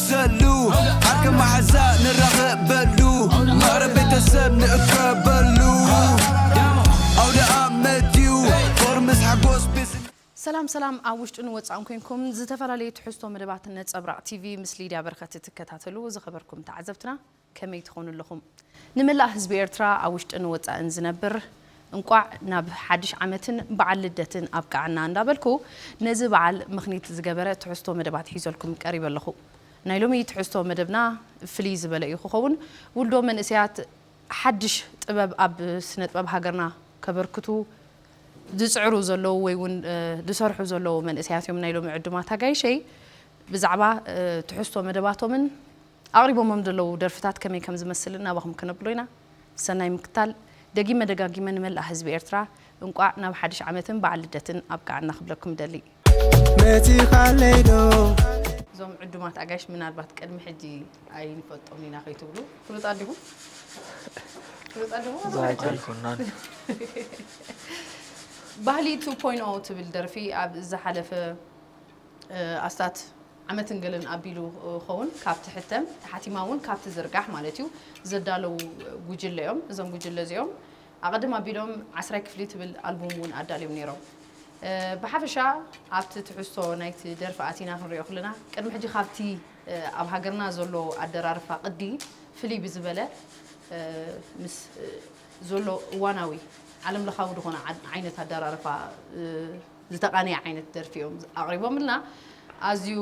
ዘሉ ሓቂ ማሓዛ ንራኸበሉ ማዕረ ቤተሰብ ንእከበሉ ኣውደኣመት ዩ ፍቕሪ ምስ ሓጎስ ቤት ዝነ ሰላም ሰላም ኣብ ውሽጥን ወጻእን ኮንኩም ዝተፈላለዩ ትሕዝቶ መደባት ነጸብራቅ ቲቪ ምስ ሊድያ በረከት እትከታተሉ ዝከበርኩም ተዓዘብትና ከመይ ትኾኑ ኣለኹም ንመላእ ህዝቢ ኤርትራ ኣብ ውሽጥን ወጻእን ዝነብር እንቋዕ ናብ ሓድሽ ዓመትን በዓል ልደትን ኣብቀዓና እንዳበልኩ ነዚ በዓል ምኽኒት ዝገበረ ትሕዝቶ መደባት ሒዘልኩም ቀሪበ ኣለኹ ናይ ሎሚ ትሕዝቶ መደብና ፍልይ ዝበለ እዩ ክኸውን ውልዶ መንእሰያት ሓድሽ ጥበብ ኣብ ስነጥበብ ሃገርና ከበርክቱ ዝጽዕሩ ዘለዉ ወይ እውን ዝሰርሑ ዘለዉ መንእሰያት እዮም ናይ ሎሚ ዕዱማት ኣጋይሸይ ብዛዕባ ትሕዝቶ መደባቶምን ኣቕሪቦሞም ዘለዉ ደርፍታት ከመይ ከም ዝመስልን ናባኹም ከነብሎ ኢና። ሰናይ ምክታል። ደጊመ ደጋጊመ ንመላእ ህዝቢ ኤርትራ እንቋዕ ናብ ሓድሽ ዓመትን በዓል ልደትን ኣብቅዓና ክብለኩም እደሊ። መጺኻለይ ዶ? እዞም ዕዱማት ኣጋይሽ ምናልባት ቅድሚ ሕጂ ኣይንፈልጦምን ኢና ከይትብሉ። ፍሉጣት ዲኹም? ፍሉጣት ዲኹም እዞም ኣጋይሽ? ዛጊ ኣይኮናን። ባህሊ ቱ ፖይንት ኦ ትብል ደርፊ ኣብ ዝሓለፈ። ኣስታት ዓመትን ገለን ኣቢሉ ኸውን ካብ ትሕተም ተሓቲማ እውን ካብ ትዝርጋሕ ማለት እዩ ዘዳለዉ ጉጅለ እዮም። እዞም ጉጅለ እዚኦም ኣቐድም ኣቢሎም ዓስራይ ክፍሊ ትብል ኣልቡም እውን ኣዳልዮም ነይሮም። ብሓፈሻ ኣብቲ ትሕዝቶ ናይቲ ደርፊ ኣቲና ክንሪኦ ክለና ቅድሚ ሕጂ ካብቲ ኣብ ሃገርና ዘሎ ኣደራርፋ ቅዲ ፍልይ ብዝበለ ምስ ዘሎ እዋናዊ ዓለምለኻዊ ዝኾነ ዓይነት ኣደራርፋ ዝተቃነየ ዓይነት ደርፊ እዮም ኣቅሪቦምልና ኣዝዩ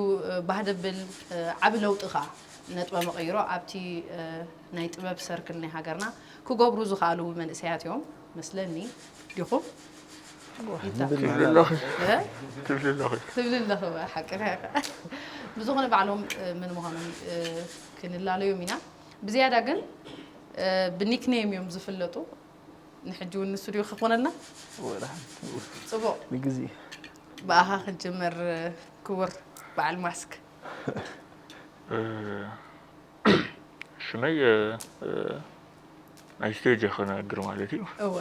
ባህ ደብል ዓቢ ለውጢ ከኣ ነጥበ መቀይሮ ኣብቲ ናይ ጥበብ ሰርክል ናይ ሃገርና ክገብሩ ዝክኣሉ መንእሰያት እዮም መስለኒ ዲኩም ትብሊ ኣለኺ ሓቂ ብዝኾነ ባዕሎም መን ምዃኖም ክንላለዮም ኢና ብዝያዳ ግን ብኒክነይም እዮም ዝፍለጡ ንሕጂ ውን ንሱ ድዩ ክኾነልና ጽቡቅ ንግዜ ብኣኻ ክጅምር ክቡር በዓል ማስክ። ሽመይ ናይ ስቴጅ እየ ክነግር ማለት እዩ እወ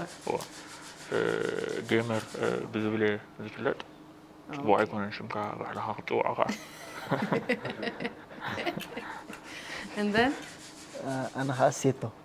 ጌመር ብዝብል እየ ዝፍለጥ ጽቡቅ ኣይኮነን ሽምካ ባዕልኻ ክትጽውዖ ከኣ። and then ኣነ ከኣ ሴቶ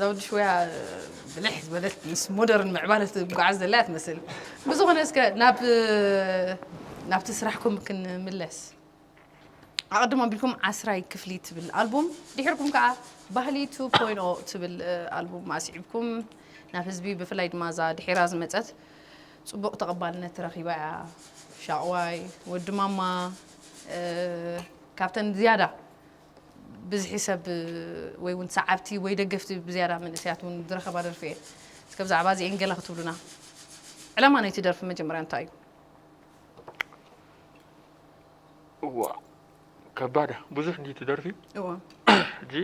ዘውዲ ሽወያ ብልሕ ዝበለት ምስ ሞደርን ምዕባለ ትጓዓዝ ዘላ እያ ትመስል ብዝኾነ እስከ ናብ ናብቲ ስራሕኩም ክንምለስ ኣቐድሞ ኣቢልኩም ዓስራይ ክፍሊ ትብል ኣልቡም ድሕርኩም ከዓ ባህሊ 2.0 ትብል ኣልቡም ኣስዒብኩም ናብ ህዝቢ ብፍላይ ድማ እዛ ድሒራ ዝመፀት ፅቡቕ ተቐባልነት ረኺባ እያ ሻቕዋይ ወዲ ማማ ካብተን ዝያዳ ብዝሒ ሰብ ወይ ውን ሰዓብቲ ወይ ደገፍቲ ብዝያዳ መንእሰያት ውን ዝረኸባ ደርፊ እየን። እስከ ብዛዕባ እዚኤን ገለ ክትብሉና? ዕላማ ናይቲ ደርፊ መጀመርያ እንታይ እዩ? እዋእ ከባድ እያ ብዙሕ እንድዩ እቲ ደርፊ እወ ሕጂ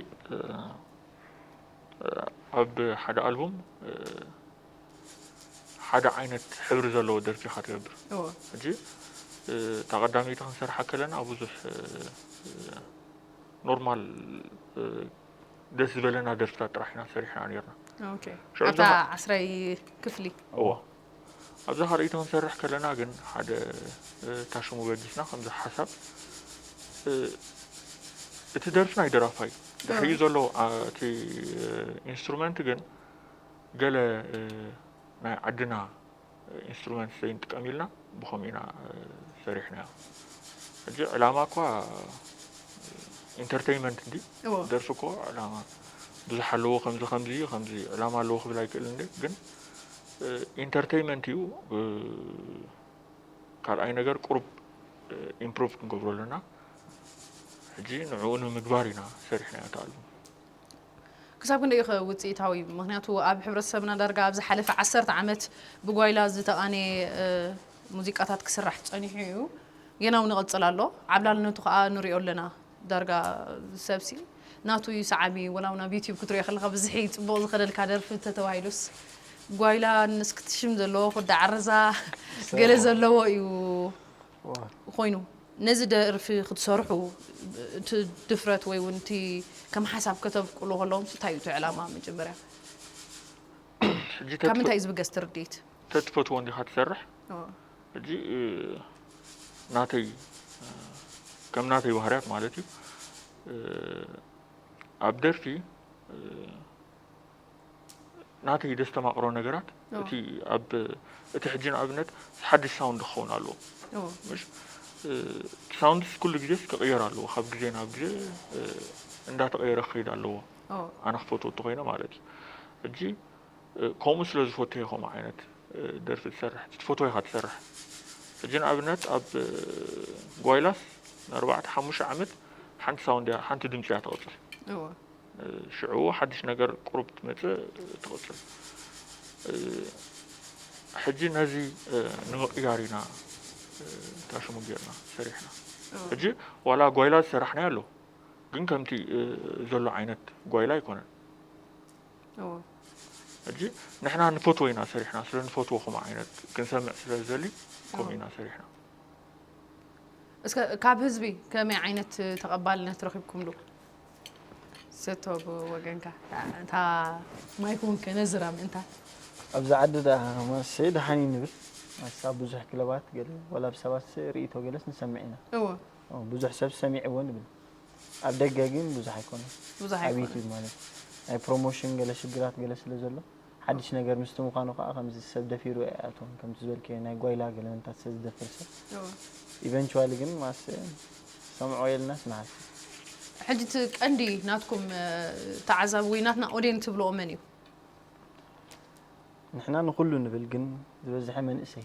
ኣብ ሓደ ኣልቡም ሓደ ዓይነት ሕብሪ ዘለዎ ደርፊ ኢኻ ትገብር። እወ። ሕጂ እታ ቀዳመይቲ ክንሰርሓ ከለና ኣብ ብዙሕ ኖርማል ደስ ዝበለና ደርፍታት ጥራሕ ኢና ሰሪሕና ነርና። ኦኬ። ሽዑ ኣብታ እዛ ዓስራይ ክፍሊ እወ። ኣብዛ ካልኣይቲ ክንሰርሕ ከለና ግን ሓደ እ፣ እታ ሽሙ በጊስና ከምዚ ሓሳብ እ፣ እቲ ደርፊ ናይ ደራፋይ እዩ። ድሕሪኡ ዘሎ ኣ፣ እቲ ኢንስትሩመንት ግን ገለ ናይ ዓድና ኢንስትሩመንት ዘይንጥቀም ኢልና ብኸምኡ ኢና ሰሪሕናዮ። ሕጂ ዕላማ እኳ ኢንተርተይመንት እንዲ እዎ ደርፊ እኮ ዕላማ ብዙሕ ኣለዎ ከምዚ ከምዚ እዩ ከምዚ ዕላማ ኣለዎ ክብል ኣይክእል እንዲ ግን ኢንተርተይመንት እዩ ካልኣይ ነገር ቁሩብ ኢምፕሩቭ ክንገብሮ ኣለና ሕጂ ንዕኡ ንምግባር ኢና ሰሪሕናዮ እቲ ኣልቡም። ክሳብ ክንደይ ኢዩኸ ውፅኢታዊ? ምኽንያቱ ኣብ ሕብረተሰብና ዳርጋ ኣብ ዝሓለፈ ዓሰርተ ዓመት ብጓይላ ዝተቓነየ ሙዚቃታት ክስራሕ ፀኒሑ እዩ። ጌና እውን ይቕፅል ኣሎ። ዓብላልነቱ ከዓ ንሪኦ ኣለና። ዳርጋ ሰብሲ ናቱ እዩ ሰዓቢ። ወላ እውን ኣብ ዩቲዩብ ክትሪኦ ከለኻ ብዝሒ ፅቡቕ ዝኸደልካ ደርፊ እንተተባሂሉስ ጓይላ ንስክትሽም ዘለዎ ኩዳ ዓረዛ ገለ ዘለዎ እዩ። ኮይኑ ነዚ ደርፊ ክትሰርሑ እቲ ድፍረት ወይ እውን እቲ ከም ሓሳብ ከተብቁሉ ከለኹምስ እንታይ እዩ እቲ ዕላማ መጀመርያ ካብ ምንታይ እዩ ዝብገስ እቲ ርድኢት? ተትፈትዎ እንዲኻ ትሰርሕ ሕጂ ናተይ ከም ናተይ ባህርያት ማለት እዩ ኣብ ደርፊ ናተይ ደስተማቕሮ ነገራት እቲ ኣብ እቲ ሕጂ ንኣብነት ሓድሽ ሳውንድ ክኸውን ኣለዎ ምሽ እቲ ሳውንድስ ኩሉ ግዜስ ክቕየር ኣለዎ ካብ ግዜ ናብ ግዜ እንዳተቐየረ ክኸይድ ኣለዎ ኣነ ክፈትዎ እንተኮይነ ማለት እዩ ሕጂ ከምኡ ስለ ዝፈትዮ ከምኡ ዓይነት ደርፊ ዝሰርሕ ትፈትዎ ኢኻ ትሰርሕ ሕጂ ንኣብነት ኣብ ጓይላስ ንኣርባዕተ ሓሙሽተ ዓመት ሓንቲ ሳውንድ ሓንቲ ድምፂ እያ ተቕፅል ሽዑ ሓድሽ ነገር ቁሩብ ትመጽእ ትቕጽል። ሕጂ ነዚ ንምቕያር ኢና እታ ሽሙ ጌርና ሰሪሕና። ሕጂ ዋላ ጓይላ ዝሰራሕናዮ ኣሎ ግን ከምቲ ዘሎ ዓይነት ጓይላ ኣይኮነን። ሕጂ ንሕና ንፈትዎ ኢና ሰሪሕና ስለ ንፈትዎ ከምኡ ዓይነት ክንሰምዕ ስለ ዝደሊ ከምኡ ኢና ሰሪሕና። እስከ ካብ ህዝቢ ከመይ ዓይነት ተቐባልነት ረኺብኩምሉ? ስቶ ብወገንካ እታ ማይክውን ከነዝራ ምእንታ ኣብዚ ዓዲ ደኣ ከማሰ ደሓን እዩ ንብል ኣስ ኣብ ብዙሕ ክለባት ገለ ዋላ ብ ሰባት ርእይቶ ገለስ ንሰምዕ ኢና እወ ኦ ብዙሕ ሰብ ሰሚዕዎ ንብል ኣብ ደገ ግን ብዙሕ ኣይኮነን ብዙሕ ኣብ ኣይኮነን። ዩቱብ ማለት ናይ ፕሮሞሽን ገለ ሽግራት ገለ ስለ ዘሎ ሓድሽ ነገር ምስቲ ምዃኑ ከኣ ከምዚ ሰብ ደፊሩ ኣይኣትዎን ከምቲ ዝበልክዮ ናይ ጓይላ ገለመንታት ሰብ ዝደፍር ሰብ ኢቨንቹዋሊ ግን ማስ ሰምዖ የልናስ ንሃሲ ሕጂ እቲ ቀንዲ ናትኩም ተዓዛቢ ወይ ናትና ኦዴን ትብልኦ መን እዩ? ንሕና ንኹሉ ንብል ግን ዝበዝሐ መንእሰይ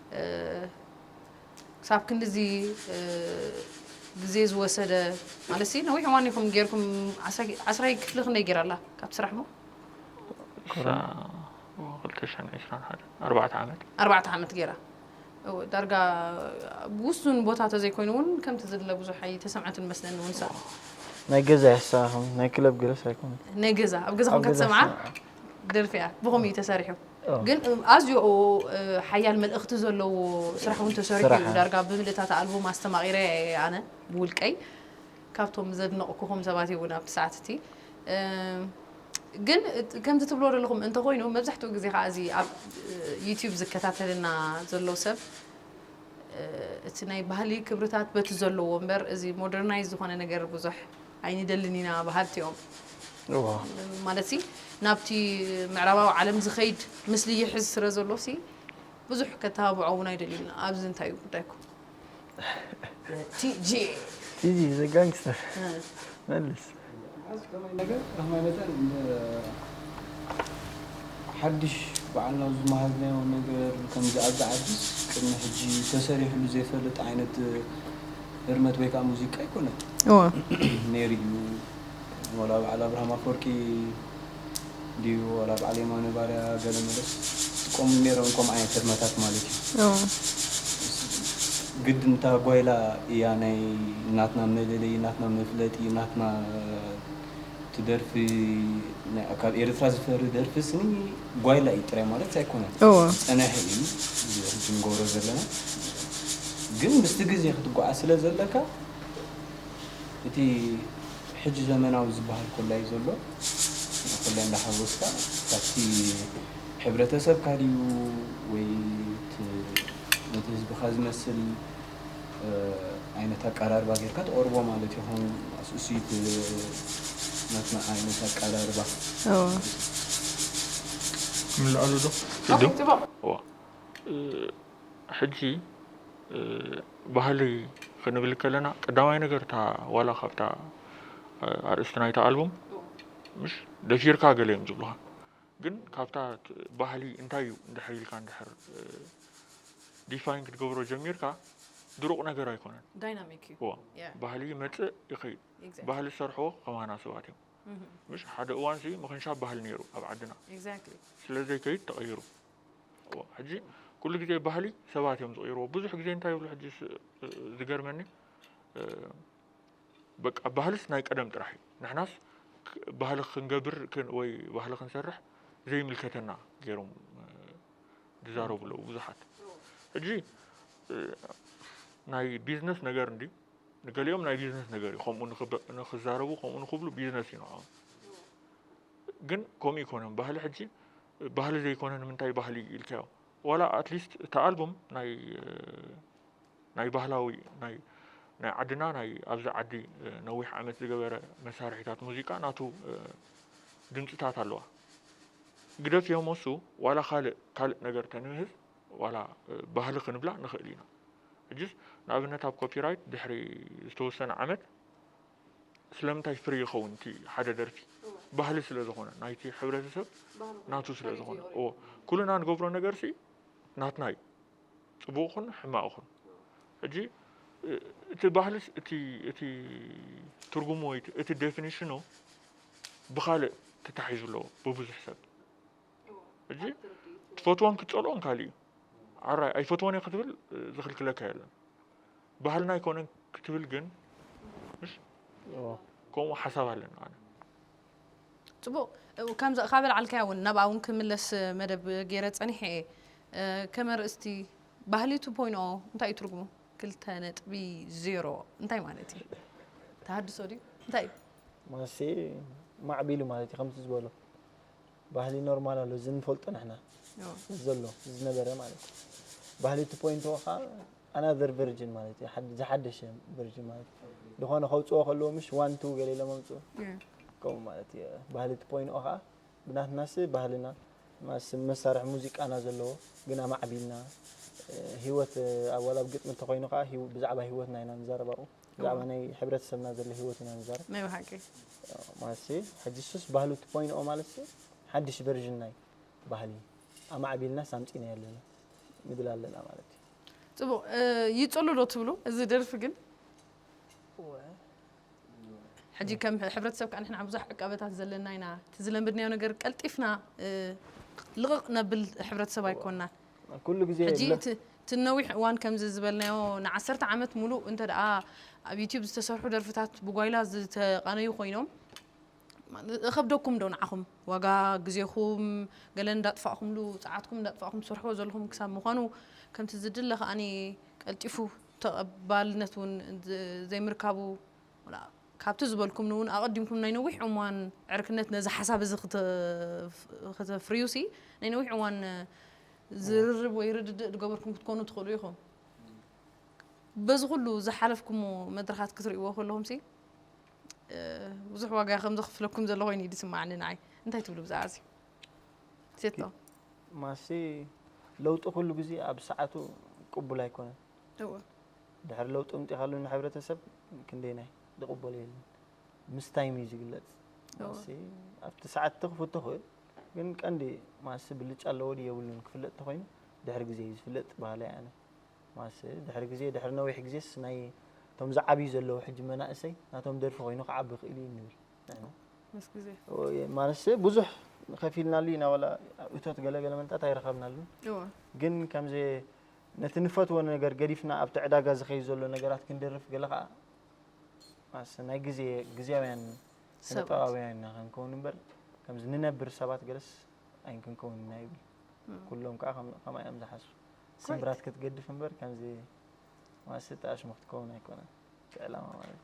ክሳብ ክንድዚ ግዜ ዝወሰደ ማለት ነዊሕ እዋን ኢኹም ጌርኩም ዓስራይ ክፍሊ ክንደይ ጌራ ኣላ ካብቲ ስራሕ እሞ ኣርባዕተ ዓመት ጌራ ዳርጋ ብውሱን ቦታ ተዘይኮይኑ እውን ከምቲ ዝድለ ብዙሕ ኣይተሰምዐትን መስለኒ እውን ሳ ናይ ገዛ ያሳኹም ናይ ክለብ ገለስ ኣይኮነ ናይ ገዛ ኣብ ገዛኹም ከተሰምዓ ደርፊ እያ ብኸምኡ እዩ ተሰሪሑ ግን ኣዝዮ ሓያል መልእኽቲ ዘለዎ ስራሕ እውን ተሰሪሑ ስራሕ፣ እዩ እ። ዳርጋ ብምልእታ እታ ኣልቡም ኣስተማቒረያ እየ ኣነ ብውልቀይ ካብቶም ዘድነቕኩኹም ሰባት እየ እውን ኣብቲ ሰዓት እቲ እ፣ ግን እት ከምዚ ትብልዎ ዘለኹም እንተኾይኑ መብዛሕትኡ ግዜ ከኣ እዚ ኣብ ዩቱብ ዝከታተለና ዘሎ ሰብ እ፣ እቲ ናይ ባህሊ ክብርታት በቲ ዘለዎ እምበር እዚ ሞደርናይዝ ዝኾነ ነገር ብዙሕ ኣይንደልን ኢና በሃልቲ'ዮም። ማለት'ሲ ናብቲ ምዕራባዊ ዓለም ዝኸይድ ምስሊ ይሕዝ ስለ ዘሎ'ሲ ብዙሕ ከተባብዖ'ውን ኣይደልዩን። ኣብዚ እንታይ'ዩ ጉዳይኩም? ቲጂ'የ። ቲጂ ዘ ጋንግስተር መልስ። መዓዝ ከመይ ነገር ከመይ መጠን ሓድሽ ባዕልና ዝመሃዝናዮ ነገር ከምዚ ኣብዚ ዓድስ ቅድሚ ሕጂ ተሰሪሕሉ ዘይፈልጥ ዓይነት ህርመት ወይ ከኣ ሙዚቃ ኣይኮነን እወ ነይሩ እዩ ወላ በዓል ኣብርሃም ኣፈወርቂ ድዩ ወላ በዓል የማነ ባርያ ገለ መለስ ዝጥቀሙሉ ነይሮም ከምኡ ዓይነት ህርመታት ማለት እዩ እወ ግድን እታ ጓይላ እያ ናይ ናትና መለለዪ ናትና መፍለጢ ናትና እቲ ደርፊ ካብ ኤርትራ ዝፈሪ ደርፊ ስኒ ጓይላ እዩ ጥራይ ማለት ኣይኮነን ዝፀነሐ እዩ ህጂ ንገብሮ ዘለና ግን ምስቲ ግዜ ክትጓዓ ስለ ዘለካ እቲ ሕጂ ዘመናዊ ዝበሃል ኮላ እዩ ዘሎ ኮላ እንዳሓወስካ ካብቲ ሕብረተሰብካ ድዩ ወይ ነቲ ህዝብካ ዝመስል ዓይነት ኣቀራርባ ጌርካ ተቕርቦ ማለት እዩ። ከም እሱ ናትና ዓይነት ኣቀራርባ ክምልኣሉ ዶ ሕጂ ባህሊ ክንብል ከለና ቀዳማይ ነገር እታ ዋላ ካብታ ኣርእስቲ ናይታ ኣልቡም ምስ ደፊርካ ገለ እዮም ዝብሉኻ ግን ካብታ ባህሊ እንታይ እዩ እንድሕር ኢልካ እንድሕር ዲፋይን ክትገብሮ ጀሚርካ ድሩቕ ነገር ኣይኮነን። ዳይናሚክ እዩ። እዋ Yeah. ባህሊ ይመጽእ ይኸይድ Exactly. ባህሊ ዝሰርሕዎ ከማና ሰባት እዮም Mhm. ምሽ ሓደ እዋን ሲ ምኽንሻብ ባህሊ ነይሩ ኣብ ዓድና Exactly. ስለ ዘይከይድ ተቐይሩ እዎ ሕጂ ኩሉ ግዜ ባህሊ ሰባት እዮም ዝቕይርዎ ብዙሕ ግዜ እንታይ ይብሉ ሕጂ ስ- ዝገርመኒ እ፣ በቃ ባህልስ ናይ ቀደም ጥራሕ እዩ ንሕናስ ባህሊ ክንገብር ወይ ባህሊ ክንሰርሕ ዘይምልከተና ገይሮም ዝዛረቡ ኣለዉ ብዙሓት ሕጂ ናይ ቢዝነስ ነገር እንዲ ንገሊኦም ናይ ቢዝነስ ነገር እዩ ከምኡ ንክዛረቡ ከምኡ ንክብሉ ቢዝነስ እዩ ንዖም ግን ከምኡ ይኮነን ባህሊ ሕጂ ባህሊ ዘይኮነ ንምንታይ ባህሊ ኢልካዮ ዋላ ኣትሊስት እቲ ኣልቡም ናይ ናይ ባህላዊ ናይ ናይ ዓድና ናይ ኣብዚ ዓዲ ነዊሕ ዓመት ዝገበረ መሳርሒታት ሙዚቃ ናቱ ድምፅታት ኣለዋ ግደፍ እዮም እሱ ዋላ ካልእ ካልእ ነገር ተንምህዝ ዋላ ባህሊ ክንብላ ንኽእል ኢና ሕጅስ ንኣብነት ኣብ ኮፒራይት ድሕሪ ዝተወሰነ ዓመት ስለምንታይ ፍሪ ይኸውን እቲ ሓደ ደርፊ ባህሊ ስለ ዝኾነ ናይቲ ሕብረተሰብ ናቱ ስለ ዝኾነ ኩሉና ንገብሮ ነገር ሲ ናትና እዩ ጽቡቕኹን ሕማቕኹን ሕጂ እቲ ባህልስ እቲ እቲ ትርጉሙ ወይ እቲ ዴፊኒሽኑ ብኻልእ ተታሒዙ ኣለዎ ብብዙሕ ሰብ ሕጂ ትፈትዎን ክትጸልኦን ካልእ እዩ ዓራይ ኣይፈትዎን እየ ክትብል ዝኽልክለካ የለን ባህልና ኣይኮነን ክትብል ግን ከምኡ ሓሳብ ኣለና ኣነ ጽቡቅ ከምዛ ካበልዓልካያ ውን ናብኣ ውን ክምለስ መደብ ጌረ ጸኒሐ እየ ከመ ርእስቲ ባህሊ ቱ ፖይንት ኦ እንታይ እዩ ትርጉሙ ክልተ ነጥቢ ዜሮ እንታይ ማለት እዩ ተሃድሶ ድዩ እንታይ እዩ ማለትሲ ማዕቢሉ ማለት እዩ ከምቲ ዝበሎ ባህሊ ኖርማል ኣሎ እዚ ንፈልጦ ንሕና ዘሎ ዝነበረ ማለት እዩ ባህሊ ቱ ፖይንት ኦ ከዓ ኣናዘር ቨርጅን ማለት እዩ ሓድ- ዝሓደሸ ቨርጅን ማለት እዩ ዝኾነ ከውፅዎ ከለዎ ምሽ ዋን ቱ ገለ ኢሎም ኣምፅኡ እም። ከምኡ ማለት እዩ ባህሊ እቲ ኮይኑኦ ከዓ ብናትናስ ባህልና ማስ መሳርሒ ሙዚቃና ዘለዎ ግን ኣማዕቢልና እ፣ ሂወት እ፣ ኣብ ዋላ ኣብ ግጥሚ እንተኮይኑ ከዓ ሂው- ብዛዕባ ሂወትና ኢና ንዛረብ ኣብኡ ብዛዕባ እዋ። ናይ ሕብረተሰብና ዘሎ ሂወት ኢና ንዛረብ ናይ ብሓቂ ማለትሲ ሕጂ እሱስ ባህሉ እቲ ኮይኑኦ ማለትሲ ሓድሽ ቨርዥን ናይ ባህሊ ኣማዕቢልናስ ኣምፂእናዮ ኣለና ንብል ኣለና ማለት እዩ ጽቡቅ ይጽሉ ዶ ትብሉ እዚ ደርፊ ግን ሕጂ ከም ሕብረተሰብ ከዓ ንሕና ብዙሕ ዕቃበታት ዘለና ኢና እቲ ዝለምድናዮ ነገር ቀልጢፍና ልቕቕ ነብል ሕብረተሰብ ኣይኮንናን ኩሉ ግዜ ሕጂ እቲ እቲ ነዊሕ እዋን ከምዚ ዝበልናዮ ንዓሰርተ ዓመት ሙሉእ እንተ ደኣ ኣብ ዩትዩብ ዝተሰርሑ ደርፍታት ብጓይላ ዝተቓነዩ ኮይኖም እኸብደኩም ዶ ንዓኹም ዋጋ ግዜኹም ገለ እንዳጥፋእኹምሉ ጸዓትኩም እንዳጥፋእኹም ትሰርሕዎ ዘለኹም ክሳብ ምዃኑ ከምቲ ዝድለ ከኣ ቀልጢፉ ተቐባልነት ውን ዘይምርካቡ ካብቲ ዝበልኩምኒ ውን ኣቐዲምኩም ናይ ነዊሕ እዋን ዕርክነት ነዚ ሓሳብ እዚ ክተፍርዩሲ ናይ ነዊሕ እዋን ዝርርብ ወይ ርድድእ ዝገበርኩም ክትኮኑ ትኽእሉ ኢኹም በዚ ኩሉ ዝሓለፍኩሞ መድረኻት ክትርእይዎ ከለኹምሲ ብዙሕ ዋጋ ከም ዘኽፍለኩም ዘሎ ኮይኑ እዩ ዝስማዓኒ ንዓይ እንታይ ትብሉ ብዛዕባ እዚ ሴቶ ማሲ ለውጢ ኩሉ ግዜ ኣብ ሰዓቱ ቅቡል ኣይኮነን እወ ድሕሪ ለውጢ ምጢኻሉ ንሕብረተሰብ ክንደይናይ ዝቕበሎ የለን ምስ ታይም እዩ ዝግለጽ ማሲ ኣብቲ ሰዓት ትኽፍት ትኽእል ግን ቀንዲ ማሲ ብልጫ ኣለዎ ድዩ የብሉን ክፍለጥ ተኾይኑ ድሕሪ ግዜ እዩ ዝፍለጥ በሃላይ ኣነ ማስ ድሕሪ ግዜ ድሕሪ ነዊሕ ግዜስ ናይ እቶም ዝዓብዩ ዘለዉ ሕጂ መናእሰይ ናቶም ደርፊ ኮይኑ ክዓቢ ክእል እዩ ንብል ንሕና ምስ ግዜ ኦየ፣ ማለትሰ ብዙሕ ከፊልናሉ ኢና ዋላ እቶት ገለገለ መንታት ኣይረኸብናሉን እወ ግን ከምዘ ነቲ ንፈትዎ ነገር ገዲፍና ኣብቲ ዕዳጋ ዝኸይድ ዘሎ ነገራት ክንደርፍ ገለ ከዓ ማስ ናይ ግዜ ግዜያውያን ስነ ሰባት። ጥበባውያን ኢና ክንከውን እምበር ከምዚ ንነብር ሰባት ገለስ ኣይንክንከውን ኢና ይብል ኩሎም ከዓ ከም- ከማይ እዮም ዝሓስቡ ስምብራት ክትገድፍ እምበር ከምዚ ዋስጥ ኣሽሙ ክትከውን ኣይኮነን እቲ ዕላማ ማለት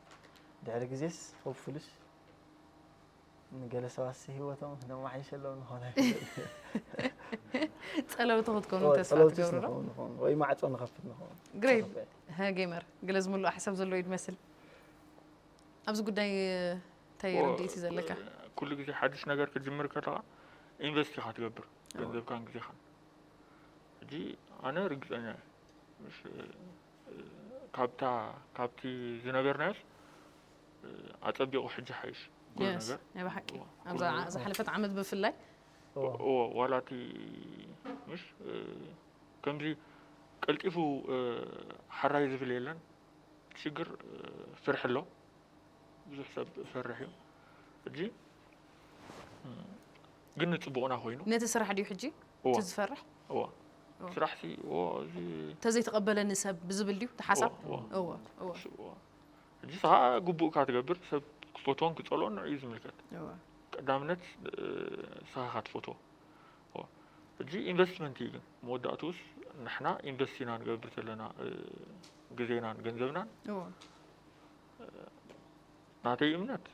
ድሕሪ ግዜስ ሆፕፉልስ ንገለ ሰባት ሂወቶም ነማሓይሸሎም ንኾነ ጸለውቲ ክትኮኑ ተስፋ ትገብሩ ዶ ወይ ማዕጾ ንኸፍት ንኸውን ግሬት ጌመር ገለ ዝምልኦ ሓሳብ ዘሎ እዩ ዝመስል ኣብዚ ጉዳይ እንታይ ርድኢት እዩ ዘለካ ኩሉ ግዜ ሓድሽ ነገር ክትጅምር ከለኻ ኢንቨስት ኢኻ ትገብር ገንዘብካን ግዜኻን ሕጂ ኣነ ርግጸኛ እየ ምስ ካብታ ካብቲ ዝነበርናዮስ ኣጸቢቑ ሕጂ ሓይሽ ኩሉ Yes፣ ነገር ናይ ብሓቂ እዎ፣ ኩሉ ኣብዛ ነገር ዝሓለፈት ዓመት ብፍላይ እዎ እዎ ዋላ እቲ ምስ ከምዚ ቀልጢፉ ሓራይ ዝብል የለን እቲ ሽግር ፍርሒ ኣሎ ብዙሕ ሰብ ፈርሕ እዩ ሕጂ ግን ንጽቡቕና ኮይኑ ነቲ ስራሕ ድዩ ሕጂ እቲ ዝፈርሕ? እወ ስራሕሲ ተዘይተቐበለኒ ሰብ ብዝብል ድዩ እቲ ሓሳብ? ሕጂስ ኸኣ ግቡእካ ትገብር ሰብ ክፈትዎን ክጸልኦን ንዕኡ ዝምልከት ቀዳምነት ንስኻኻ ትፈትዎ ሕጂ ኢንቨስትመንት እዩ ግን መወዳእትኡስ ንሕና ኢንቨስት ኢና ንገብር ዘለና ግዜናን ገንዘብናን ናተይ እምነት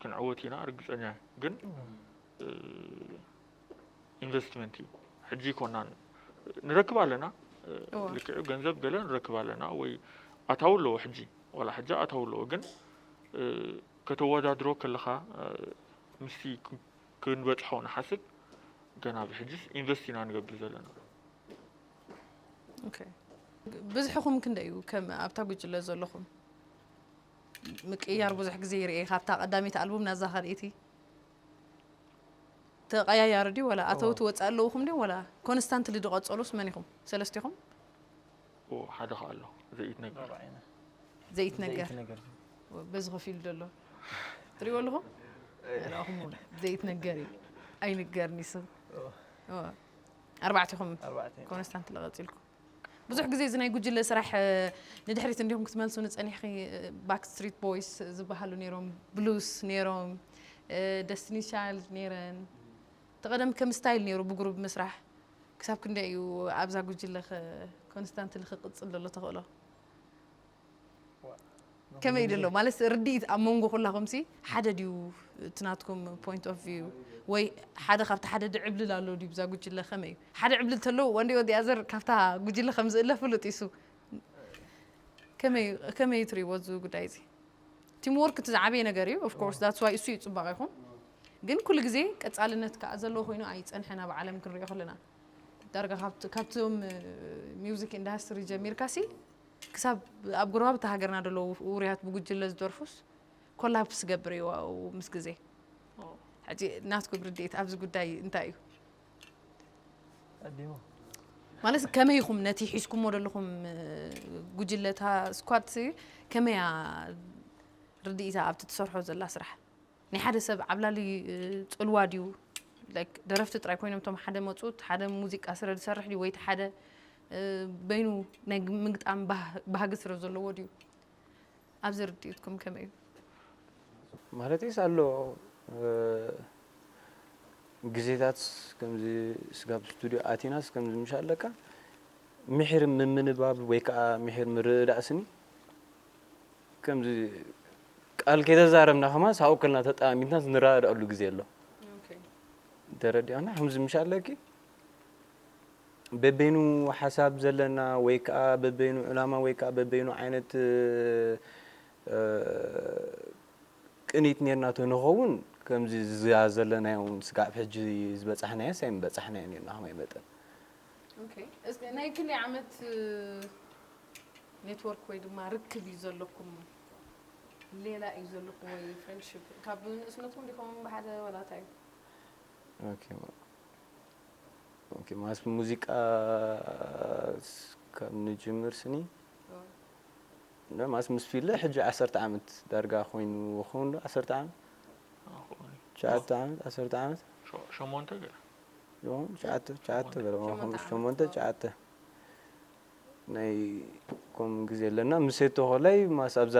ክንዕወት ኢና ርግፀኛ እየ ግን ኢንቨስትመንት እዩ ሕጂ ኮና ንረክብ ኣለና ልክዕ ገንዘብ ገለ ንረክብ ኣለና ወይ ኣታው ኣለዎ ሕጂ ዋላ ሕጂ ኣታው ኣለዎ ግን ከተወዳድሮ ከለኻ ምስቲ ክንበፅሖ ንሓስብ ገና ብሕጅስ ኢንቨስት ኢና ንገብር ዘለና ብዝሕኹም ክንደይ እዩ ከም ኣብታ ጉጅለ ዘለኹም ምቅይያር ብዙሕ ግዜ ይርኤ ካብታ ቀዳመይቲ ኣልቡም ናዛ ካልኤቲ ተቀያያሪ ድዩ ወላ ኣተውቲ ወጻኢ ኣለውኹም ድዮም ወላ ኮንስታንትሊ ድቀጸሉስ መን ኢኹም ሰለስቲኹም? ኦው ሓደ ከኣ ኣሎ ዘይትነገር። ዘይትነገር በዚ ኮፍ ኢሉ ዘሎ ትሪእዎ ኣለኹም ንኣኹም እውን ዘይትነገር እዩ ኣይንገርን ይስብ ኣርባዕቲኹም ኮንስታንትሊ ቀጺልኩም ብዙሕ ግዜ እዚ ናይ ጉጅለ ስራሕ ንድሕሪት እንዲኹም ክትመልሱኒ ጸኒሕኺ ባክ ስትሪት ቦይስ ዝበሃሉ ነይሮም ብሉስ ነይሮም ደስቲኒ ቻይልድ ነይረን እቲ ቀደም ከም ስታይል ነይሩ ብጉሩብ ምስራሕ ክሳብ ክንደይ እዩ ኣብዛ ጉጅለ ኮንስታንትሊ ክቅጽል ዘሎ ተኽእሎ ከመይ ድሎ ማለት ርድኢት ኣብ መንጎ ኩላኹምሲ ሓደ ድዩ እቲ ናትኩም ፖይንት ኦፍ ቪው ወይ ሓደ ካብቲ ሓደ ድዕብልል ኣሎ ድዩ ብዛ ጉጅለ ከመይ እዩ ሓደ ዕብልል ተሎ ወንዲ ወዲ ኣዘር ካብታ ጉጅለ ከም ዝእለ ፍሉጥ ይሱ ከመይ እዩ ትሪእዎ እዚ ጉዳይ እዚ ቲም ወርክ እቲ ዝዓበየ ነገር እዩ ኦፍኮርስ ዳትስ ዋይ እሱ እዩ ፅባቕ ይኹም ግን ኩሉ ግዜ ቀፃልነት ከዓ ዘለዎ ኮይኑ ኣይፀንሐን ኣብ ዓለም ክንሪኦ ከለና ዳርጋ ካብቶም ሚውዚክ ኢንዳስትሪ ጀሚርካሲ ክሳብ ኣብ ጎረባብቲ ሃገርና ደለዉ ውሩያት ብጉጅለ ዝደርፉስ ኮላፕስ ዝገብር እዩ ኣብኡ ምስ ግዜ። ሕጂ ናትኩም ርድኢት ኣብዚ ጉዳይ እንታይ እዩ? ቀዲሙ። ማለት ከመይ ኢኹም ነቲ ሒዝኩሞ ደለኹም ጉጅለ እታ ስኳድሲ ከመይ እያ ርድኢታ ኣብቲ ትሰርሖ ዘላ ስራሕ? ናይ ሓደ ሰብ ዓብላሊ ጽልዋ ድዩ like ደረፍቲ ጥራይ ኮይኖም እቶም ሓደ መጹ እቲ ሓደ ሙዚቃ ስረ ዝሰርሕ ድዩ ወይ እቲ ሓደ በይኑ ናይ ግ- ምግጣም ባህ- ባህጊ ስረ ዘለዎ ድዩ ኣብዚ ርድኢትኩም ከመይ እዩ? ማለተይስ ኣሎ እ፣ ግዜታት ከምዚ ስጋብ ስቱድዮ ኣቲናስ ከምዚ ምሻለካ ምሒር ምምንባብ ወይ ከኣ ምሒር ምርድዳእ ስኒ ከምዚ ቃል ከይተዛረብና ከማን ሳብኡ ከልና ተጠማሚትና ንረዳዳኣሉ ግዜ ኣሎ ተረዲኣና ከምዚ ምሽ ኣለኪ በበይኑ ሓሳብ ዘለና ወይ ከዓ በበይኑ ዕላማ ወይ ከዓ በበይኑ ዓይነት ቅኒት ነርና ተንኸውን ከምዚ ዝያ ዘለናዮ ስጋዕ ሕጂ ዝበፃሕናዮስ ኣይምበፃሕናዮን ኢና ከማይ መጠን ኦኬ እስከ ናይ ክንደይ ዓመት ኔትወርክ ወይ ድማ ርክብ እዩ ዘለኩም ሌላ እዩ ዘለኩም ወይ ፍሬንድሽፕ ካብ ንእስነትኩም ዲኹም ብሓደ ወላ እንታይ እዩ ኦኬ ማ- ኦኬ ማለት ሙዚቃ ስ- ካብ ንጅምር ስኒ ኦ፣ እንዳ ማለት ምስ ፊለ ሕጂ ዓሰርተ ዓመት ዳርጋ ኮይኑ ክኸውን ዶ ዓሰርተ ዓመት ኣኾኒ ሸዓተ ዓመት ዓሰርተ ዓመት ሸሞንተ ገለ ትሽዓተ ትሽዓተ በለ ሓሙሽተ ሸሞንተ ትሽዓተ ናይ ኮም ግዜ ኣለና ምስ ተኾላይ ማስ ኣብዛ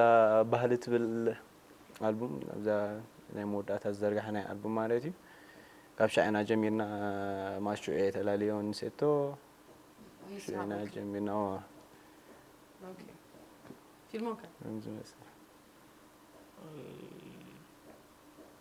ባህሊ ትብል ኣልቡም ኣብዛ ናይ መወዳእታ ዝዘርጋሐ ናይ ኣልቡም ማለት እዩ ካብ ሻዕና ጀሚርና ማሹ እየ ተላለዮ ንሴቶ ሻዕና ጀሚርና ፊልሞከ ዝመስል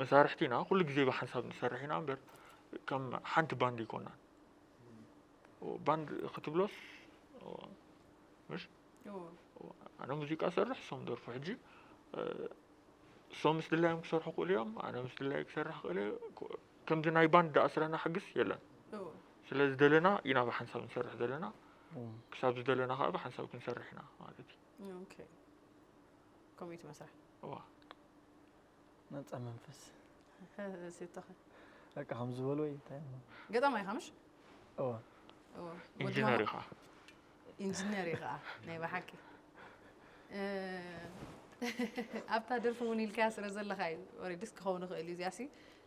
መሳርሕቲና ኩሉ ግዜ ብሓንሳብ ንሰርሕ ኢና እምበር ከም ሓንቲ ባንድ ይኮናን ባንድ ክትብሎስ ምሽ ኣነ ሙዚቃ ሰርሕ እሶም ደርፉ ሕጂ እሶም ምስ ድላዮም ክሰርሑ ክእሉ እዮም ኣነ ምስ ድላይ ክሰርሕ ክእለ ከምዚ ናይ ባንድ ዳኣስረና ሕግስ የለን ስለ ዝደለና ኢና ብሓንሳብ ንሰርሕ ዘለና ክሳብ ዝደለና ከዓ ብሓንሳብ ክንሰርሕ ኢና ማለት እዩ ከምኡ እዩ እቲ መስርሕ እዋ ነፃ መንፈስ ሴቶኸ በቃ ከም ዝበሉ ወይ እንታይ እሞ ገጣማ ኢኻ ምሽ እዋ እዎ ወዲ ኢንጂነር ማማ- እዩ ከዓ ኢንጂነር እዩ ከዓ ናይ ብሓቂ እ፣ ኣብታ ደርፊ እውን ኢልካያ ስለ ዘለካ እዩ ኦሬዲስ ክኸውን ይኽእል እዩ እዚኣ ሲ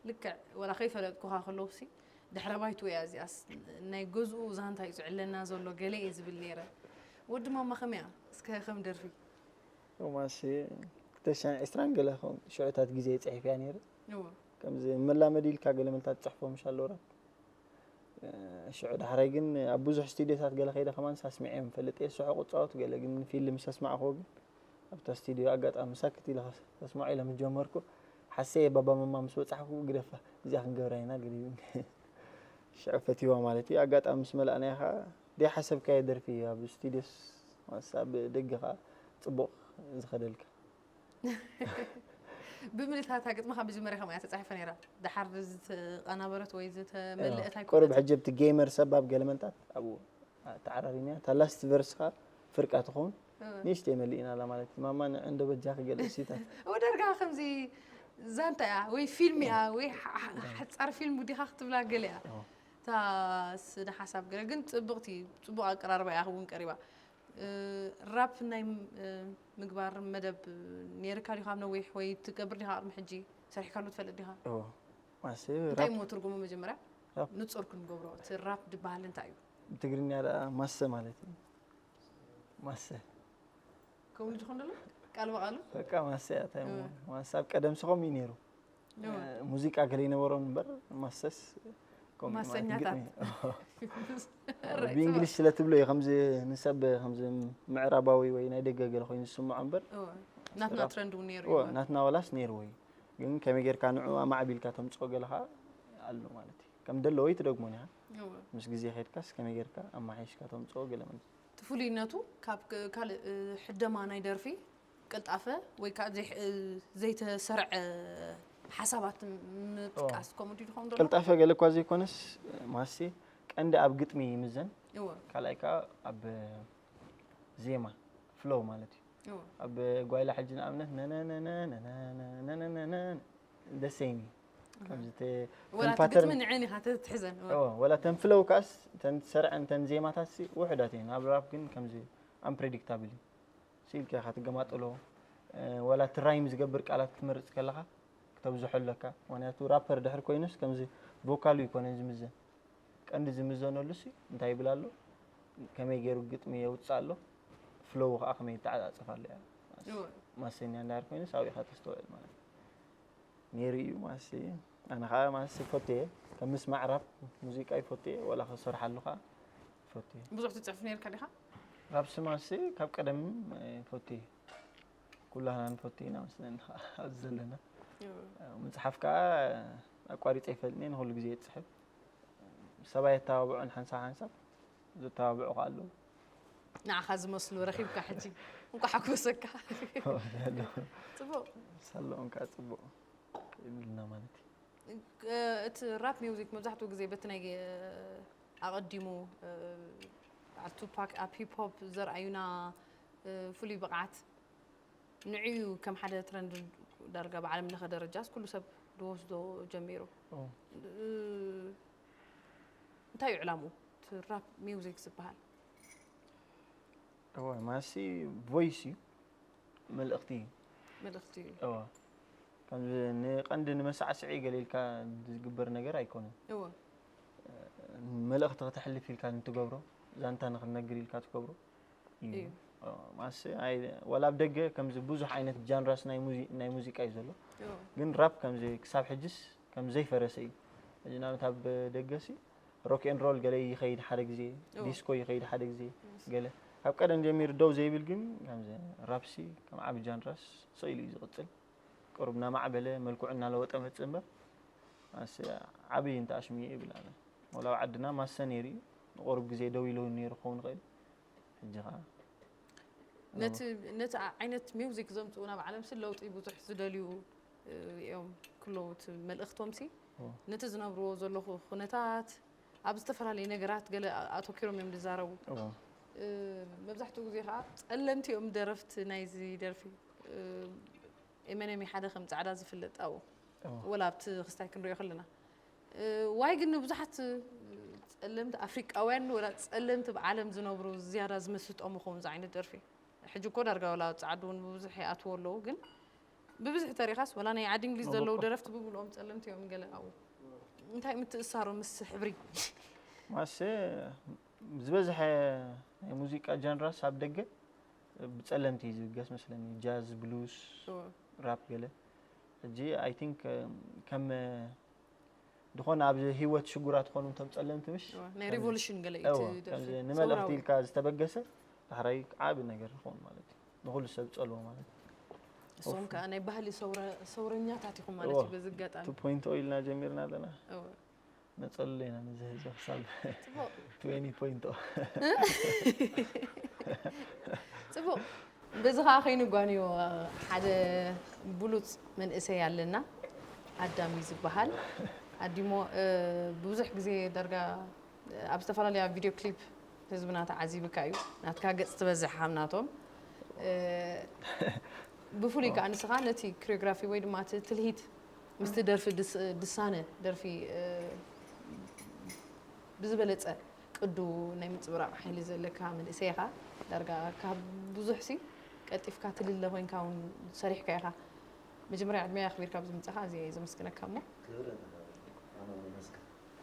ልክዕ ወላ ከይፈለጥኩኻ ከለዉ ሲ ድሕረ ባይቱ እያ እዚኣስ ናይ ገዝኡ ዛንታ እዩ ዝዕለና ዘሎ ገለ እየ ዝብል ነይረ ወዲ ማማ ከመይ እያ እስከ ከም ደርፊ ሮማንስ ክልተ ሽሕን ዕስራን ገለ ከም ሽዑታት ግዜ ጽሒፈያ ነይረ ከምዚ መላመዲ ኢልካ ገለ መልታት ትጽሕፎ ምሽ ኣለውራ ሽዑ ዳሕራይ ግን ኣብ ብዙሕ ስቱድዮታት ገለ ከይደ ከማን ሳስሚዐዮም ፈልጥ እየ ስሑ ቁጻወት ገለ ግን ፊልም ሰስማዕክዎ ግን ኣብታ ስቱድዮ ኣጋጣሚ ሳክት ኢለ ከስማዖ ኢለ ምስ ጀመርኩ ሓሰየ ባባ መማ ምስ በጻሕኩ ግደፋ እዚኣ ክንገብራ ኢና ገለ ሽዑ ፈትዋ ማለት እዩ ኣጋጣሚ ምስ መላእናያ ከዓ ደይሓሰብካዮ ደርፊ እዩ ኣብ ስቱድዮስ ኣብ ደገ ከኣ ጽቡቕ ዝኸደልካ። ብምልእታ እታ ግጥሚ ካብ መጀመርያ ከምኣ እያ ተጻሒፋ ነይራ ደሓር ዝተቐናበረት ወይ ዝተመልእት ኣይኮነትን። ቁሩብ ሕጂ ኣብቲ ገይመር ሰብ ኣብ ገለ መንታት ኣብኡ ተዓራሪና እታ ላስት ቨርስ ከኣ ፍርቃ ትኸውን ንእሽተይ መሊእናላ ማለት እዩ ማማ ንዕ እንዶ በጃኺ ገለ እሲታት። እወ ዳርጋ ከምዚ ዛንታ እያ ወይ ፊልም እያ ወይ ሓጻር ፊልም ውዲኻ ክትብላ ገለ እያ። እታ ስነ ሓሳብ ገለ ግን ጽብቅቲ ጽቡቅ ኣቀራርባ እያ ውን ቀሪባ ራፕ ናይ ምግባር መደብ ኔርካ ዲካ ኣብ ነዊሕ ወይ ትገብር ዲካ ቅድሚ ሕጂ ሰሪሕካሉ ትፈልጥ ዲካ እወ ማሰ እንታይ ራፕ እሞ ትርጉሙ መጀመርያ ራፕ ንጹር ክንገብሮ እቲ ራፕ ድበሃል እንታይ እዩ ብትግርኛ ደኣ ማሰ ማለት እዩ ማሰ ከምኡ ድዩ ዝኮን ደሎ ቃል ብቃሉ በቃ ማሰ እያ እንታይ እሞ ማሰ ኣብ ቀደም ሰ ከምኡ እዩ ኔሩ ሙዚቃ ገለ ይነበሮ እምበር ማሰስ ማሰኛታት ብእንግሊሽ ስለ ትብሎ እዩ ከምዚ ንሰብ ከምዚ ምዕራባዊ ወይ ናይ ደገ ገለ ኮይኑ ዝስምዖ እምበር ናትና ትረንድ እውን ነይሩ ናትና ዋላስ ነይርዎ እዩ ግን ከመይ ጌርካ ንዑ ኣማዕቢልካ ተምፅኦ ገለ ከዓ ኣሎ ማለት እዩ ከም ደለዎ እዩ ትደግሞ ኒኻ ምስ ግዜ ከድካስ ከመይ ጌርካ ኣማሓይሽካ ተምፅኦ ገለ ትፍሉይነቱ ካብ ካልእ ሕደማ ናይ ደርፊ ቅልጣፈ ወይ ከኣ ዘይተሰርዐ ሓሳባት ምጥቃስ ከምኡ ድዩ ዝኸውን ዘሎ? ቅልጣፈ ገለ እኳ ዘይኮነስ ማስቲ ቀንዲ ኣብ ግጥሚ ይምዘን፣ ካልኣይ ከኣ ኣብ ዜማ ፍሎው ማለት እዩ። ኣብ ጓይላ ሕጂ ንኣብነት ደሴም እዩ ወላ ተን ፍሎው ከኣስ ተን ዝሰርዐን ተን ዜማታት ውሑዳት እየን። ኣብ ራፕ ግን ከምዚ ኣምፕረዲክታብል እዩ። ስኢልካ ኢኻ ትገማጥሎ ወላ እቲ ራይም ዝገብር ቃላት ክትመርጽ ከለኻ ክተብዝሖ ኣለካ ምክንያቱ ራፐር ድሕር ኮይኑስ ከምዚ ቮካሉ ይኮነን ዝምዘን ቀንዲ ዝምዘነሉ ሲ እንታይ ይብል ኣሎ ከመይ ገይሩ ግጥሚ የውፅእ ኣሎ ፍሎው ከዓ ከመይ ይተዓፃፀፍ ኣሎ እያ ማሰኛ እንዳር ኮይኑስ ኣብኡ ኢኻ ተስተውዕል ማለት ነይሩ እዩ ማሰ ኣነ ከዓ ማሰ ይፈቱ እየ ከም ምስማዕ ራፕ ሙዚቃ ይፈቱ እየ ወላ ክሰርሓሉ ከዓ ፈትየ ብዙሕ ትጽሕፍ ነርካ ዲኻ ካብ ስማሲ ካብ ቀደም ፈትየ ኩላህና ንፈትየ ኢና መስለኒ ኣብዚ ዘለና ምፅሓፍ ከዓ ኣቋሪፀ ይፈልኒ ንኩሉ ግዜ እፅሕፍ ሰባይ ኣተባብዑን ሓንሳብ ሓንሳብ ዘተባብዑ ከዓ ኣለዉ ንዓኻ ዝመስሉ ረኺብካ ሕጂ እንኳ ሓጎሰካ ፅቡቅ ሳለኦም ከዓ ፅቡቅ ይብልና ማለት እዩ እቲ ራፕ ሚውዚክ መብዛሕትኡ ግዜ በቲ ናይ ኣቐዲሙ በዓል ቱፓክ ኣብ ሂፕ ሆፕ ዘርኣዩና ፍሉይ ብቕዓት ንዕኡ ከም ሓደ ትረንድ ዳርጋ ብዓለም ለኸ ደረጃስ ኩሉ ሰብ ዝወስዶ ጀሚሩ እንታይ እዩ ዕላምኡ እቲ ራፕ ሚውዚክ ዝበሃል? እወ ማሲ ቮይስ እዩ መልእኽቲ እዩ መልእኽቲ እዩ እወ ከምዚ ንቀንዲ ንመሳዕስዒ ገለ ኢልካ ዝግበር ነገር ኣይኮነን እወ መልእኽቲ ከተሕልፍ ኢልካ ንትገብሮ ዛንታ ንክነግር ኢልካ ትገብሮ እዩ ማሰ ዋላ ኣብ ደገ ከምዚ ብዙሕ ዓይነት ጃንራስ ናይ ሙዚቃ እዩ ዘሎ ግን ራፕ ከምዚ ክሳብ ሕጅስ ከም ዘይፈረሰ እዩ እዚ ንኣብነት ኣብ ደገሲ ሮክ ኤን ሮል ገለ ይኸይድ ሓደ ግዜ ዲስኮ ይኸይድ ሓደ ግዜ ገለ ካብ ቀደም ጀሚሩ ደው ዘይብል ግን ከምዚ ራፕሲ ከም ዓብ ጃንራስ ስኢሉ እዩ ዝቕፅል ቅሩብ እናማዕበለ መልክዑ እናለወጠ መጽእ እምበር ኣሰ ዓብይ እንተ ኣሽሙ እዩ ይብል ኣነ ወላ ኣብ ዓድና ማሰ ነይሩ እዩ ንቁሩብ ግዜ ደው ኢሉ ነይሩ ክኸውን ይኽእል ሕጂ ከዓ ነቲ ዓይነት ሚውዚክ ዘምፅኡ ናብ ዓለም ሲ ለውጢ ብዙሕ ዝደልዩ እዮም ክለውት መልእኽቶም ሲ ነቲ ዝነብርዎ ዘለኹ ኩነታት ኣብ ዝተፈላለየ ነገራት ገለ ኣቶኪሮም እዮም ዝዛረቡ መብዛሕትኡ ግዜ ከዓ ጸለምቲ እዮም ደረፍቲ ናይዚ ደርፊ ኤመነሚ ሓደ ከም ጻዕዳ ዝፍለጥ ኣብኡ ወላ ኣብቲ ክስታይ ክንሪኦ ከለና ዋይ ግን ንብዙሓት ጸለምቲ ኣፍሪቃውያን ወላ ጸለምቲ ኣብ ዓለም ዝነብሩ ዝያዳ ዝምስጦም ይኸውን ዝዓይነት ደርፊ ሕጂ እኮ ዳርጋ ወላ ጻዕዱ እውን ብብዙሕ ይኣትዎ ኣለዉ ግን ብብዝሒ ተሪኻስ ወላ ናይ ዓዲ እንግሊዝ ዘለዉ ደረፍቲ ብምልኦም ጸለምቲ እዮም ገለ ኣብኡ እንታይ ምትእሳሩ ምስ ሕብሪ ማሰ ዝበዝሐ ናይ ሙዚቃ ጃንራስ ኣብ ደገ ብጸለምቲ እዩ ዝብገስ መስለኒ ጃዝ ብሉስ ራፕ ገለ ሕጂ ኣይ ቲንክ ከም ዝኾነ ኣብ ህይወት ሽጉራት ዝኾኑ እቶም ጸለምቲ ምሽ ናይ ሪቮሉሽን ገለ እዩ ንመልእኽቲ ኢልካ ዝተበገሰ ዳሕራይ ዓቢ ነገር ይኸውን ማለት እዩ ንኹሉ ሰብ ዝጸልዎ ማለት እሶም ከዓ ናይ ባህሊ ሰውረኛታት ኢኹም ማለት እዩ በዚ ኣጋጣሚ ፖይንት ኢልና ጀሚርና ኣለና ነፀልሎ ኢና ነዚ ህዝቢ ክሳብ ትዌኒ ፖይንት ፅቡቕ በዚ ከዓ ከይኑ ጓንዮ ሓደ ብሉፅ መንእሰይ ኣለና ኣዳም እዩ ዝበሃል ኣዲሞ ብዙሕ ግዜ ዳርጋ ኣብ ዝተፈላለያ ቪድዮ ክሊፕ ህዝብና ተዓዚብካ እዩ ናትካ ገጽ ትበዝሕ ሃም ናቶም ብፍሉይ ከዓ ንስኻ ነቲ ክሪዮግራፊ ወይ ድማ እቲ ትልሂት ምስቲ ደርፊ ድሳነ ደርፊ ብዝበለፀ ቅዱ ናይ ምፅብራቕ ሓይሊ ዘለካ መንእሰይ ኢኻ ዳርጋ ካብ ብዙሕ ሲ ቀልጢፍካ ትልለ ኮይንካ እውን ሰሪሕካ ኢኻ መጀመርያ ዕድሜ ኣኽቢርካ ብዝምፃኻ እዚ ዘመስግነካ እሞ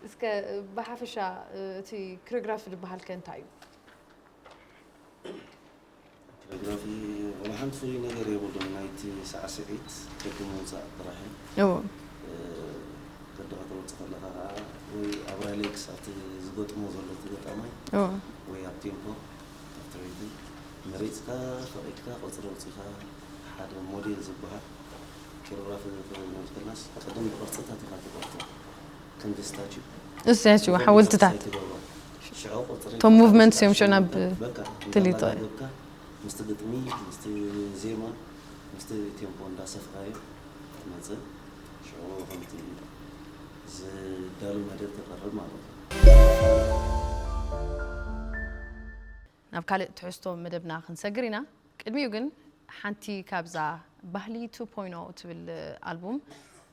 እስከ ብሓፈሻ እቲ ክረግራፊ ዝበሃል ከ እንታይ እዩ? ክረግራፊ ዋላ ሓንቲ ፍሉይ ነገር የብሉን ናይቲ ሳዕስዒት ቅዲ ምውጻእ ጥራሕ እዩ። እው። ቅዲ ከተውጽእ ከለኻ ከኣ ወይ ኣብ ራይሌክስ ኣብቲ ዝገጥሞ ዘሎ እቲ ገጣማይ እው። ወይ ኣብ ቴምፖ ኣብቲ ሪትም መሪጽካ ፈቒድካ ቁጽሪ ኣውጺኻ ሓደ ሞዴል ዝበሃል ክረግራፊ ክነብተናስ ቅድም ብቕርጽታት ኢኻ ትቐርጾ። ክንድስታችው እዚኣትዩ ሓወልትታት እቶም ሙቭመንት እዮም ሽዑ ናብ ትልይቶ ምስቲ ግጥሚ ምስቲ ዜማ ምስቲ ቴምፖ እንዳሰፍራዮ ትመፅእ ሽዑ ከምቲ ዝዳሉ መደብ ተቐርብ ማለት ናብ ካልእ ትሕዝቶ መደብና ክንሰግር ኢና ቅድሚኡ ግን ሓንቲ ካብዛ ባህሊ 2.0 ትብል ኣልቡም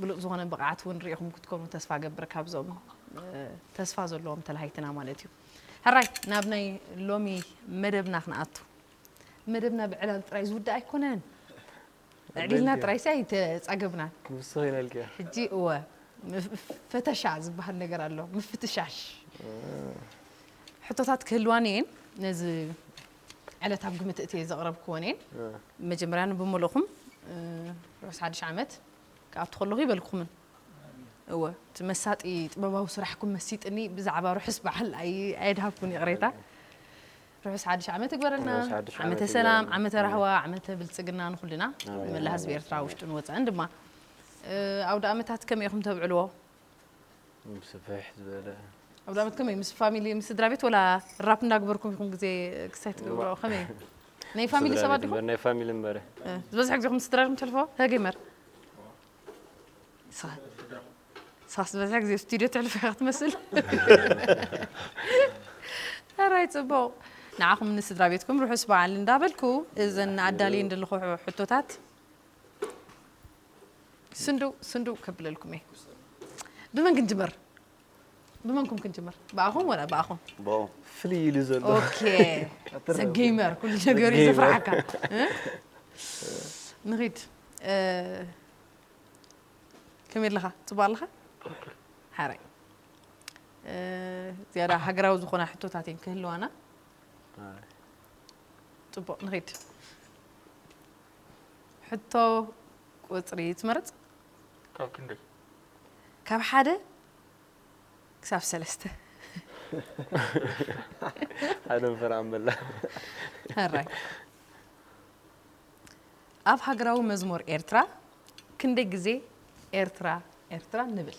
ብሉጽ ዝኾነ ብቕዓት እውን ርኢኹም ክትኮኑ ተስፋ ገብር ካብዞም ተስፋ ዘለዎም ተላሃይትና ማለት እዩ ሕራይ ናብ ናይ ሎሚ መደብና ክንኣቱ መደብና ብዕላል ጥራይ ዝውዳእ ኣይኮነን ዕሊልና ጥራይ ሲ ኣይተጻገብናን ንሱ ይነልክ ሕጂ እወ ፈተሻ ዝበሃል ነገር ኣሎ ምፍትሻሽ ሕቶታት ክህልዋኒ እየን ነዚ ዕለት ኣብ ግምት እትየ ዘቕረብክወን እየን። መጀመርያ ንብሙልእኹም ርሑስ ሓድሽ ዓመት ክኣቱ ከለኹ ይበልኩምን እወ እቲ መሳጢ ጥበባዊ ስራሕኩም መሲጥኒ ብዛዕባ ርሑስ በዓል ኣየድሃብኩን ይቕሬታ ርሑስ ሓድሽ ዓመት ይግበረልና ዓመተ ሰላም ዓመተ ራህዋ ዓመተ ብልፅግና ንኩልና ንመላ ህዝቢ ኤርትራ ውሽጥን ወፃእን ድማ ኣውደ ኣመታት ከመይ ኢኹም ተብዕልዎ ስፍሕ ዝበለ ኣውዳመት ከመይ ምስ ፋሚሊ ምስ ስድራ ቤት ወላ ራፕ እንዳግበርኩም ኢኹም ግዜ ክሳይ ትገብሮ ከመይ ናይ ፋሚሊ ሰባት ዲኹም ናይ ፋሚሊ እምበረ ዝበዝሐ ግዜኹም ምስ ስድራኹም ተልፎ ሀገመር ሳስ ዝበዝሐ ግዜ ስቱድዮ ትሕልፈ ኢኻ ትመስል ራይ ፅቡቕ ንዓኹም ንስድራ ቤትኩም ርሑስ በዓል እንዳበልኩ እዘን ኣዳልየን ዘለኹ ሕቶታት ስንዱ ስንዱ ከብለልኩም እየ ብመን ክንጅምር ብመንኩም ክንጅምር ብኣኹም ወላ ብኣኹም ብኡ ፍልይ ኢሉ ዘሎ ኦኬ ኣትረፍ። ሰጌመር ኩሉ ነገር እዩ ሰጌመር። ዘፍርሓካ እ? ንኺድ እ፣ ከመይ ኣለኻ ፅቡቅ ኣለኻ ሓራይ እ፣ ዝያዳ ሃገራዊ ዝኾና ሕቶታት እየን ክህልዋና ፅቡቅ ንኺድ ሕቶ ቁጽሪ ትመርጽ? ካብ ክንደይ? ካብ ሓደ ክሳብ ሰለስተ። ሓደ እንፈር ኣመላ። ሕራይ። ኣብ ሃገራዊ መዝሙር ኤርትራ ክንደይ ግዜ ኤርትራ ኤርትራ ንብል?